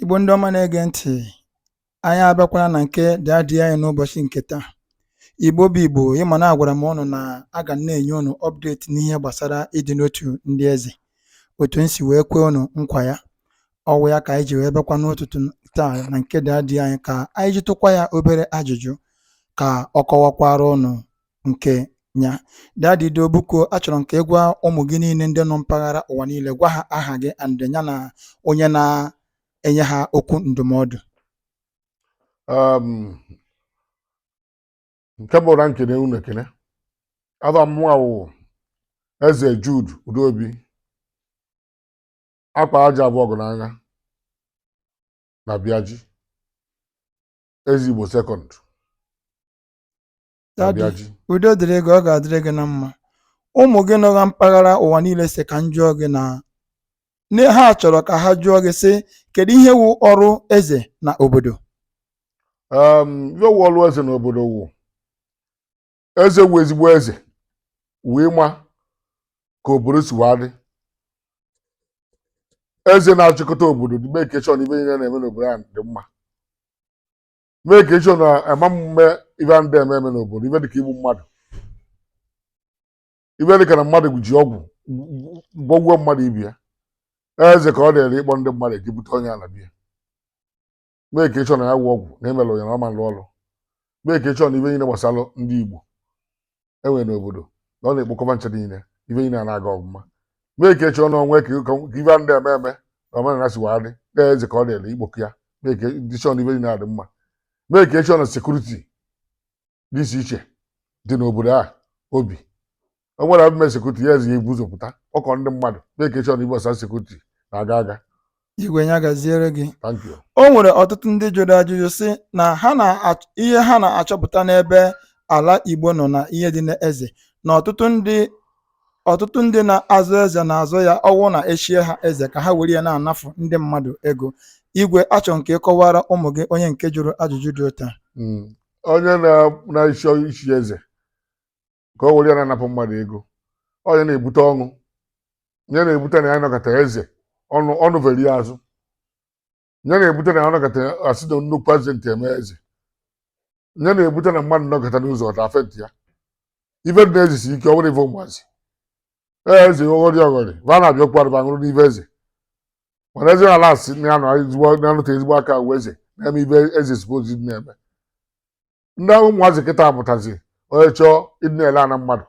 Igbo ndị ọma na-ege ntị, anyị abịakwala na nke dadi anyị n'ụbọchị nke taa. Igbo bụ Igbo, ị ma na agwara m ụnụ na aga m na-enye ụnụ update n'ihe gbasara ịdị n'otu ndị eze otu m si wee kwee ụnụ nkwa ya. Ọ wụ ya ka anyị ji wee bịakwa n'ụtụtụ taa na nke dadi anyị ka anyị jụtụkwa ya obere ajụjụ ka ọ kọwakwara ụnụ nke ya dadi do biko achọrọ m ka ị gwa ụmụ gị niile ndị nọ mpaghara ụwa niile gwa ha aha gị and ya na onye na-enye ha okwu ndụmọdụ Um, nke mbụ wụ na m kene unu ekene afa mụnwa wụ eze Jude Udobi akpa aja abụọ ọgụ n'anya na Biaji eze Igbo second Dadi, Abịaji. udo dịrị gị ọ ga-adịrị gị na mma ụmụ gị nọ na mpaghara ụwa niile sị ka m jụọ gị na na ha chọrọ ka ha jụọ gị sị kedu ihe wụ ọrụ eze na obodo um, ife wụ ọlụ eze n'obodo wụ eze wụ ezigbo eze wee ma ka obodo si wee dị eze na-achịkọta obodo to make sure na ife niile na-eme n'obodo ahụ dị mma make sure na a ma mme ife a na-adị eme eme n'obodo ife dịka igbu mmadụ ife dịka na mmadụ ji ọgwụ gwọgbuo mmadụ ibe ya eze ka ọ dịrị ịkpọ ndị mmadụ eji bute onye ala bịa make sure na ya wụ ọgwụ na emelụ ya na ọ ma lụ ọlụ make sure na ife niile gbasara ndị Igbo e nwere n'obodo na ọ na-ekpokọ va ncha niile ife niile a na-aga ọfụma make sure na ọ ma ka ka ife a na-adị eme eme na omenala si wee dị na eze ka ọ dịrị ikpokọ ya make sure na ife niile adị mma make sure na security dị iche iche dị n'obodo a obi o nwere abụme security na eze ya-ebu ụzọ pụta kpọkọ ndị mmadụ make sure na ife concern security na-aga aga igwe ya gaziere gị thank you o nwere ọtụtụ ndị jụrụ ajụjụ sị na ha na ihe ha na-achọpụta n'ebe ala igbo nọ na ihe dị n'eze na ọtụtụ ndị ọtụtụ ndị na-azọ eze na-azọ ya ọ wụ na e chie ha eze ka ha were ya na-anafu ndị mmadụ ego igwe achọ m ka ị kọwara ụmụ gị onye nke jụrụ ajụjụ dị otu a Mm. onye na- na-achọ ichi eze ka o were ya na-anapụ mmadụ ego ọ ya na-ebute ọnwụ ya na-ebute na ya nọkata eze ọnụ ọnụ veri ya azụ ya na-ebute na ya nọkata a sị na nnukwu azị ntị eme eze ya na-ebute na mmadụ nọkata n'ụzọ ọta afe ntị ya ife dị n'eze si ike ọ bụrọ ife ụmụazị ee eze ọghọrị ọghọrị va na-abịakwa arụba ṅụrụ n'ife eze mana eze ala asị na ya nọ ezigbo na-anụta ezigbo aka uwe eze na-eme ife eze suppose na-eme ndị ahụ ụmụazị kịta amụtazi onye chọọ ịdị na-ele ana mmadụ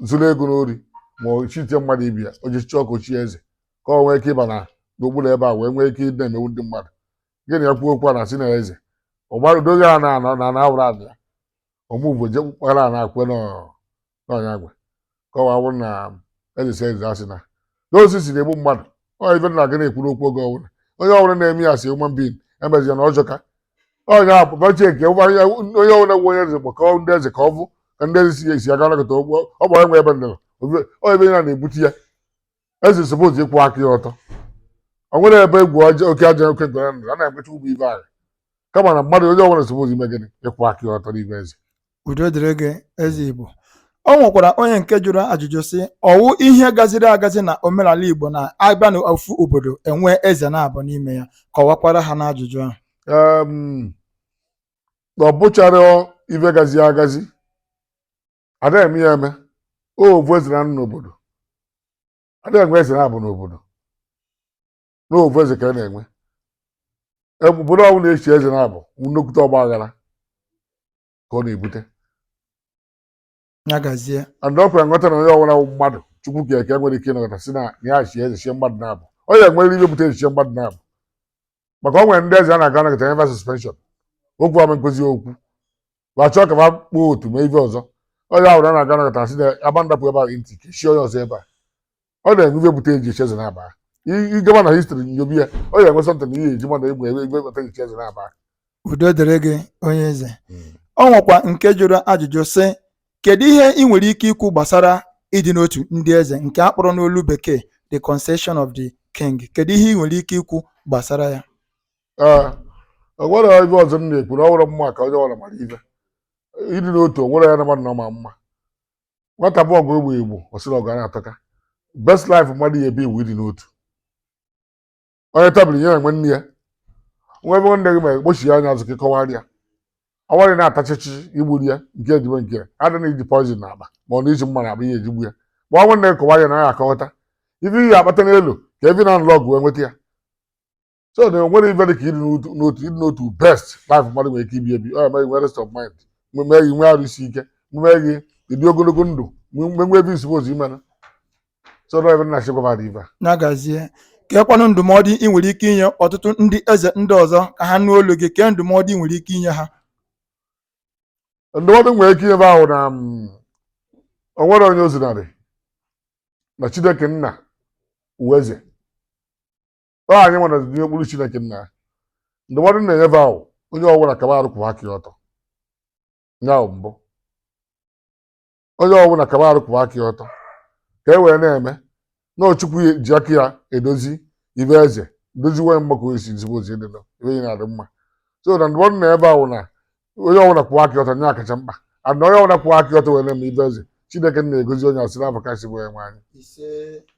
zuru ego n'ori ma o chitie mmadụ ibi ya o ji chọọ ka o chie eze ka o nwee ike ịba na n'okpuru ebe a wee nwee ike ịdị na-emewu ndị mmadụ gị na ya kwuo okwu a na si na eze ọ gbadoghị a na anọ na na awụrụ ala ya ọmụgwọ je kpara a na-akwe na n'ọnya agwa kọwaa wụ na eze si eze asị na osisi na-egbu mmadụ ọ ife na aga na-ekwuru okwu oge ọbụla onye ọbụla na-eme ya asị human being emezi ya na ọ jọka onye a pụpachi eke onye ọbụla gwa onye eze kpọkọọ ndị eze ka ọ bụ ka ndị eze si ya esi aga nakọta ụgbọ ọ gbara nwe ebe ndịrọ onye ebe ya na-ebute ya eze suppose ịkwụ aka ya ọtọ o nwere ebe egwu ọjọọ oke ajọ oke ngwere nọ a na-ekwecha ụgbọ ibe ahụ kama na mmadụ onye ọbụla suppose ime gịnị ịkwụ aka ya ọtọ n'ime eze udo dịrị gị eze igbo o nwekwara onye nke jụrụ ajụjụ sị ọ wụ ihe gaziri agazi na omenala igbo na a bịa na ofu obodo e nwee eze naabọ n'ime ya kọwakwara ha n'ajụjụ ahụ Em, na ọ bụcharọ ife gazi agazi ada eme ya eme ovu eze na-anọ n'obodo ada enwe eze naabọ n'obodo na ovu eze ka a na-enwe Ebe obodo ọbụla na-echi eze naabọ nnukwute ọgba aghara ka ọ na-ebute ya gazie and ọ kwere nghọta na onye ọbụla bụ mmadụ chukwu ka eke nwere ike ịnọkọta si na ya chi eze chie mmadụ naabọ ọ ya nwere ihe bute eji chie mmadụ naabọ maka o nwere ndị eze a na-aga nakọta nye va suspension okwu ama nkụzi okwu ma chọọ ka fa kpọọ otu ma ife ọzọ onye ahụ na na-aga nakọta asị na agba ndapụ ebe a ntị ka e chie onye ọzọ ebe a ọ na-enwe ife bute eji echi eze naabọ ị gaba na history nyobi ya ọ ya enwe something ihe eji mmadụ egbe egbe bata echi eze naabọ udo dịrị gị onye eze o nwekwa nke jụrụ ajụjụ sị Kedu ihe ị nwere ike ikwu gbasara ịdị n'otu ndị eze nke a kpọrọ n'olu Bekee The Concession of the King? Kedu ihe ị nwere ike ikwu gbasara ya? Ee, o nwerọ ive ọzọ m na-ekwu na ọ wụrọ ma ka onye ọbụla mara ive ịdị n'otu o nwere ya na mmadụ na ọma mma nwata bụ ọgụ egbe igbo ọ sị na ọgụ a na-atọka best life mmadụ ya ebi wụ ịdị n'otu onye tabụl nye enwe nne ya nwa ebe nwanne gị ma ekpochi ya anya azụ ka ịkọwara ya ọwarị na-atachichi igburu ya nke ejibe nke ya adị na iji poison n'akpa ma ọ na iji mma n'akpa ihe eji gbu ya ma ọ nwanne gị kọwara ya na ya akọghọta ife ihe akpata n'elu ka evi na nlọgụ wee nweta ya so na enwere ife dị ka ịdị n'otu n'otu ịdị n'otu best life mmadụ nwere ike ibi ebi ọ eme gị nwere rest of mind mee gị nwee arụ isi ike mee gị ịdị ogologo ndụ mgbe nwe ebe isi ozi imena so na ebe na-achị gwa mmadụ ive a. ya gazie keekwanụ ndụmọdụ ị nwere ike inye ọtụtụ ndị eze ndị ọzọ ka ha nụ olu gị kee ndụmọdụ ị nwere ike inye ha ndụmọdụ m nwere ike inye va wụ na mm, o nwere onye ozinarị na chineke nna wụ eze ọ anyị nwa dị n'okpuru chineke nna ya. ndụmọdụ m na-enye va wụ onye ọbụla kaba arụ kwụwa aka ya ọtọ ya bụ mbụ onye ọbụla kaba arụ kwụwa aka ya ọtọ ka e wee na-eme na ọ chukwu ya-eji aka ya edozi ive eze doziwe ya mma ka o si zigbo ozi dị nọ ibe ya na-adị mma so na ndụmọdụ m na-enye va wụ na onye ọbụla kwụwa aka ya ọtọ ya kacha mkpa ana onye ọbụla kwụwa aka ya ọtọ wee na-eme ive eze chineke na-egozi onye a si n'ava ọkasị bụ onye nwe anyị ise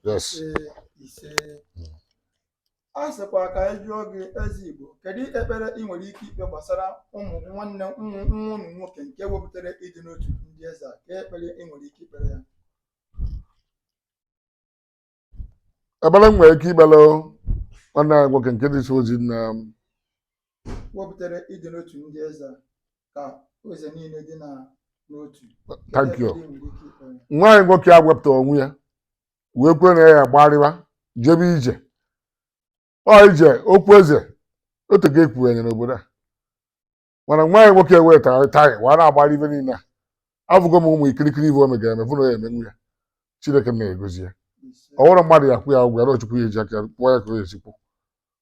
yes ise ise a sịkwa ka anyị jụọ gị eze igbo kedu ekpere ị nwere ike ikpe gbasara ụmụ nwanne nwa ụnụ nwoke nke wepụtara ịdị n'otu ndị eze a kee ekpere ị nwere ike ikpere ya ekpere m nwere ike ikpere nwanne anyị nwoke nke dị ozi na wepụtara ịdị n'otu ndị eze a ka eze niile dị na n'otu thank you nwa anyị nwoke a wepụta onwe ya wee kwe na ya gbarịwa jebe ije ọ ije okwu eze otu ka ekwughanye n'obodo a mana nwa anyị nwoke wee tara taya wa na-agbara ibe niile afụgo m ụmụ ikirikiri ive o megara eme fụ na ya emenwu ya chineke na-egozi ya ọ bụrọ mmadụ ya-akwụ ya ụgwọ ya na ọ chukwu ya-eji aka ya kwụọ ya ka o esi kwụ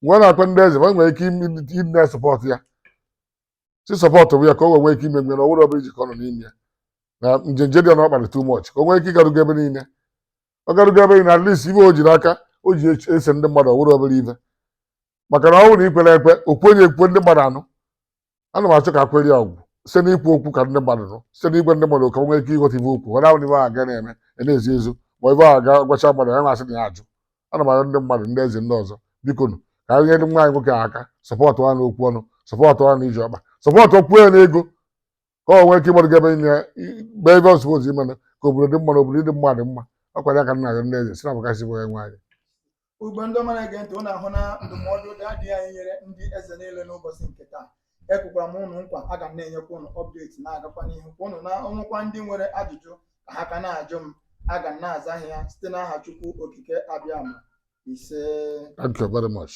mgbe ọ na-akpa ndị eze ma nwere ike ịdị na-esupport ya si support bụ ya ka o wee nwee ike ime nwere ọ wụrọ obele ije ka ọ nọ n'ime ya na njenje dị ọ na ọ kpara too much ka o nwee ike ịgarugo ebe niile ọ garugo ebe niile at least ive o ji n'aka o ji eche- ese ndị mmadụ ọ wụrọ obele ive maka na ọ bụrụ na ikwere ekwe okwu onye ekwe ndị mmadụ anụ ana m achọ ka akwere ya ọgwụ site n'ikwu okwu ka ndị mmadụ nụ site n'igwe ndị mmadụ ka o nwee ike ịghọta ibe okwu ọ na-ahụ na ibe ahụ ga na-eme ya na-ezu ezu ma ibe ahụ ga gwacha mmadụ ya na-asị na ya ajụ ana m arịọ ndị mmadụ ndị eze ndị ọzọ bikonụ ka anyị nyere nwa anyị nwoke a aka support ya n'okwu ọnụ support ya n'ije ọkpa supportkwuo ya n'ego ka o nwee ike ịgbado gebe na-eme ive ọ suppose ime ka obodo dị mma na obodo dị mmadụ mma ọ kwa ya ka m na-arịọ ndị eze si n'ava ọkasị bụ onye nwe anyị Igbo ndị ọma na-ege ntị, unu ahụna ndụmọdụ daddy anyị nyere ndị eze niile n'ụbọchị nke taa. ekwekwa m ụnụ nkwa aga m na-enyekwa ụnụ update na-agakwa n'ihu gwa ụnụ na o nwekwa ndị nwere ajụjụ ka ha ka na-ajụ m aga m na-aza ha ya site n'aha Chukwu Okike Abịama ise Thank you very much.